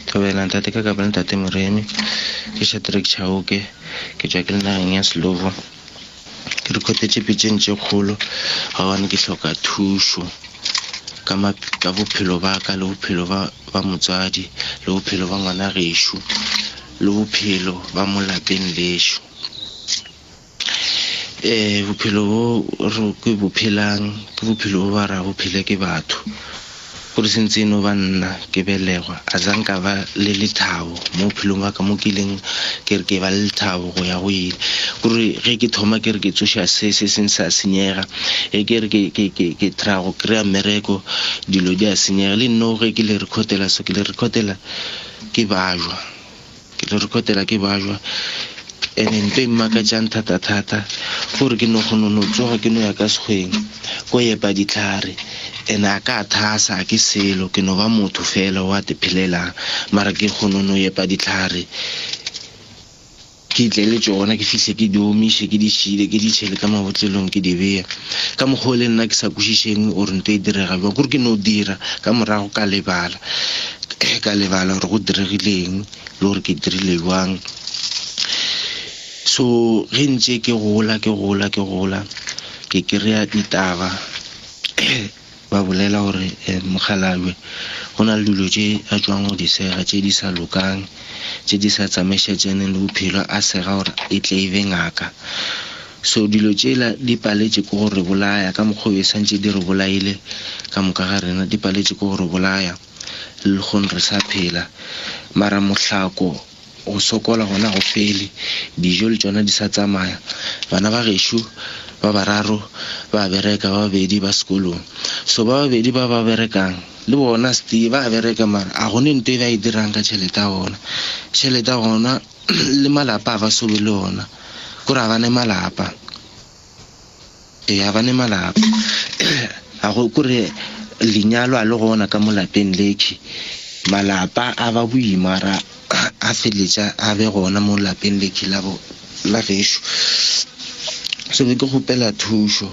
Thobela, Ntate ka kapa le Ntate Moremi. Ke Shadrack Chauke, ke tšwa ke le nageng ya Slovo. Ke rekhothetše pitšeng tše kgolo gobane ke hloka thušo ka ma, ka bophelo ba ka le bophelo ba, ba motswadi le bophelo ba ngwana gešo le bophelo ba mo lapeng lešo. Ee, bophelo bjo re ke bo phelang ke bophelo bjo ba ra bo phele ke batho. Gore se ntse e no ba nna ke belegwa, a za nka ba le lethabo mo bophelong bwa ka mo ke ileng ke re ke ba le lethabo go ya go ile. Kore ge ke thoma ke re ke tsoša se se seng sa senyega, ge ke re ke try-a go kry-a mmereko dilo di a senyega. Le nno ge ke le record-ela so ke le record-ela ke bajwa. Ke tlo rekhotela ke bajwa ene nto e mmakatšang thatathata ke gore ke no kgono no tsoga ke no ya ka sekgweng ko yepa ditlhare ene a ka thasa a ke selo ke no ba motho fela wa tephelelang mara ke kgono no yepa ditlhare ke tle le tšona ke fihle ke di omiše ke di šile ke di tšhele ka mabotlelong ke di beye ka mokgwa o le nna ke sa kwešišeng gore nto e direga bjang gore ke no dira ka morago ka lebala. Ge ka lebala gore go diregile eng, le gore ke dirile bjang. So, ge ntše ke gola, ke gola, ke gola, ke kry-a ditaba, ba bolela gore Mokgalabje go na le dilo tše a tšwang go di sega tše di sa lokang, tše di sa tsamaišetšaneng le bophelo, a sega gore e tle e be ngaka. So dilo tšela di paletše ke go re bolaya, ka mokgwa wo e santše di re bolaile ka moka ga rena, di paletše ke go re bolaya lkgone re sa phela. Mara mohlako, go sokola gona ga go fele, dijo le tšona di sa tsamaya. Bana ba gešo ba bararo ba a bereka, ba babedi ba sekolong. So ba babedi ba ba berekang le bona stee ba a bereka mara a gone nto e ba e dirang ka tšhelete ya bona. Tšhelete ya gona. Le malapa a ba sobe le ona. Kore a ba ne malapa. Ee, a ba ne malapa. A go kore lenyalo a le gona ka mo lapeng lekhwi. Malapa a ba boima ra a feletša a be gona mo lapeng lekhwi la bo la gešo. So be ke kgopela thušo.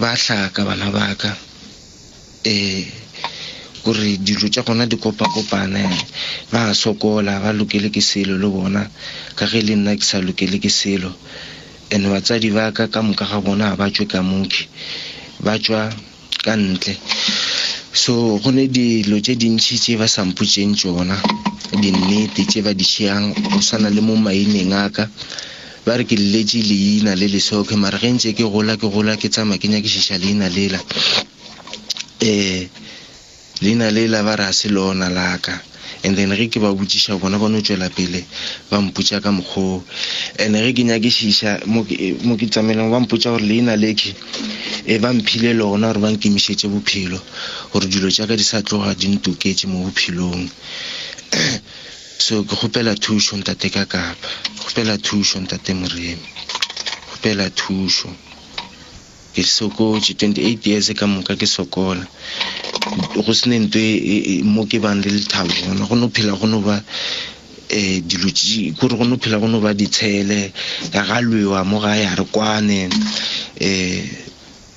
Ba hlaka, bana ba ka, ee, gore dilo tša gona di kopakopane. Ba a sokola, ba lokele ke selo le bona, ka ge le nna ke sa lokele ke selo. And batswadi ba ka, ka moka ga bona ga ba tšwe ka mokhwi, ba tšwa ka ntle. So go ne dilo tše dintši tše ba sa mpotšeng tšona, dinnete tše ba di tšeang, go swana le mo maineng a ka, Ba re ke lletše leina le leswa, okay, mara ge ntše ke gola, ke gola, ke tsamaya ke nyakišiša leina lela, eh, leina lela ba re ga se lona la ka. And then ge ke ba botšiša, bona ba no tšwela pele ba mpotša ka mokgwa o. And ge ke nyakišiša mo ke, mo ke tsamailego, ba mpotša gore leina le ke, eh, ba mphile lona gore ba nkemišetše bophelo, gore dilo tša ka di sa tloga di ntoketše mo bophelong. So ke kgopela thušo ntate ka kapa. Kgopela thušo ntate moremi. Kgopela thušo. Ke sokotše 28 years ka moka ke sokola. Go se ne nto mo ke bang le lethabo gona. Go no phela go no ba eh dilo kore go no phela go no ba ditshele. Ga lwewa mo gae a re kwane eh.